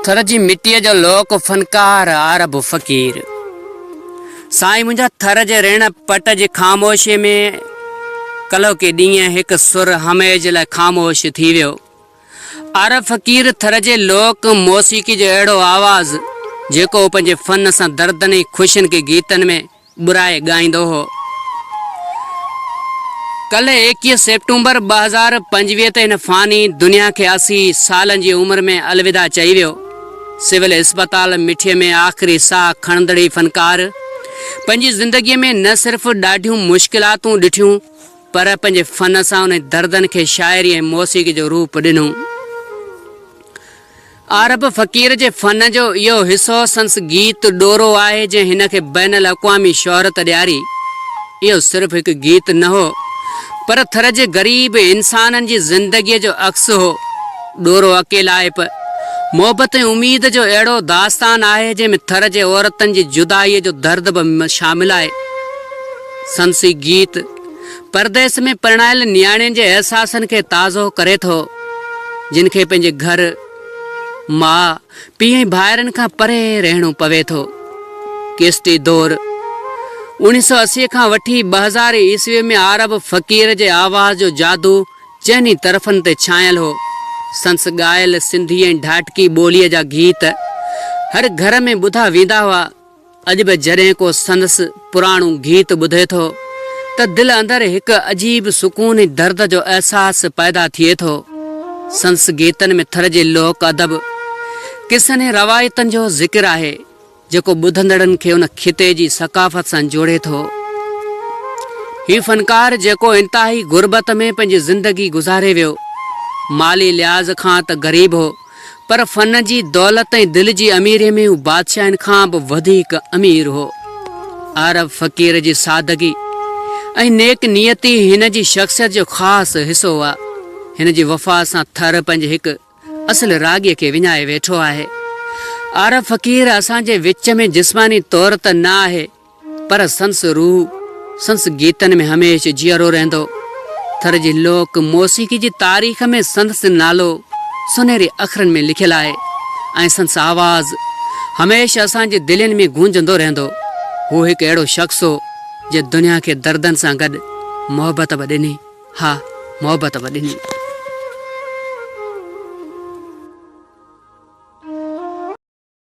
ٿر جي مٽيء جو لوڪ فنڪار عرب فقير سائين منهنجا ٿر جي ريڻ پٽ جي خاموشيء ۾ ڪلهوڪي ڏينهن هڪ سر هميجھ لاء خاموش ٿي ويو. عرب فقير ٿر جي لوڪ موسيقي جو اهڙو آواز جيڪو هو پنهنجي فن سان دردن ۽ خوشين کي گيتن ۾ ٻرائي ڳائيندو هو. ڪلهه ايڪيهه سيپٽمبر ٻه هزار پنجويهه تي هن فاني دنيا کي اسي سالن جي عمر ۾ الوداع چئي ويو. سول اسپتال مٺي ۾ آخري ساهه کڻندڙ هي فنڪار پنهنجي زندگي ۾ نه صرف ڏاڍيون مشڪلاتون ڏٺيون پر پنهنجي فن سان انهن دردن کي شاعري ۽ موسيقي جو روپ ڏنو. عارب فقير جي فن جو اهو حصو سندس گيت ڏورو آهي جنهن هن کي بين الاقوامي شهرت ڏياري. اهو صرف هڪ گيت نه هو پر ٿر جي غريب انسانن جي زندگيء جو عڪس هو. ڏورو اڪيلائپ، محبت ۽ اميد جو اهڙو داستان آهي جنهن ۾ ٿر جي عورتن جي جدائيء جو درد به شامل آهي. سندس هي گيت پرديس ۾ پرڻايل نياڻين جي احساسن کي تازو ڪري ٿو، جن کي پنهنجي گهر، ماء، پيء ۽ ڀائرن کان پري رهڻو پوي ٿو. ڪيسٽي دور، اوڻيهه سؤ اسي کان وٺي ٻه هزار عيسويء ۾ عارب فقير جي آواز جو جادو چئن ئي طرفن تي ڇانيل هو. سندس ڳايل سنڌي ۽ ڍاٽڪي ٻوليء جا گيت هر گهر ۾ ٻڌا ويندا هئا. اڄ به جڏهن ڪو سندس پراڻو گيت ٻڌي ٿو ته دل اندر هڪ عجيب سڪون ۽ درد جو احساس پيدا ٿئي ٿو. سندس گيتن ۾ ٿر جي لوڪ ادب، قصن ۽ روايتن جو ذڪر آهي، جيڪو ٻڌندڙن کي ان خطي جي ثقافت سان جوڙي ٿو. هي فنڪار جيڪو انتهائي غربت ۾ پنهنجي زندگي گذاري ويو، مالي لحاظ کان ته غريب هو، پر فن جي دولت ۽ دل جي اميريء ۾ هو بادشاهن کان به وڌيڪ امير هو. عارف فقير جي سادگي ۽ نيڪ نيتي هن جي شخصيت جو خاص حصو هئا. هن جي وفا سان ٿر پنهنجي هڪ اصل راڳي کي وڃائي ويٺو آهي. عارف فقير اسان جي وچ ۾ جسماني طور ته نه آهي پر سندس روح سندس گيتن ۾ هميشھ جيئرو رهندو. ٿر جي لوڪ موسيقي جي تاريخ ۾ سندس نالو سنهري اکرن ۾ لکيل آهي ۽ سندس آواز هميشھ اسان جي دلين ۾ گونجندو رهندو. هو هڪ اهڙو شخص هو جنهن دنيا کي دردن سان گڏ محبت به ڏني. ها محبت به ڏني.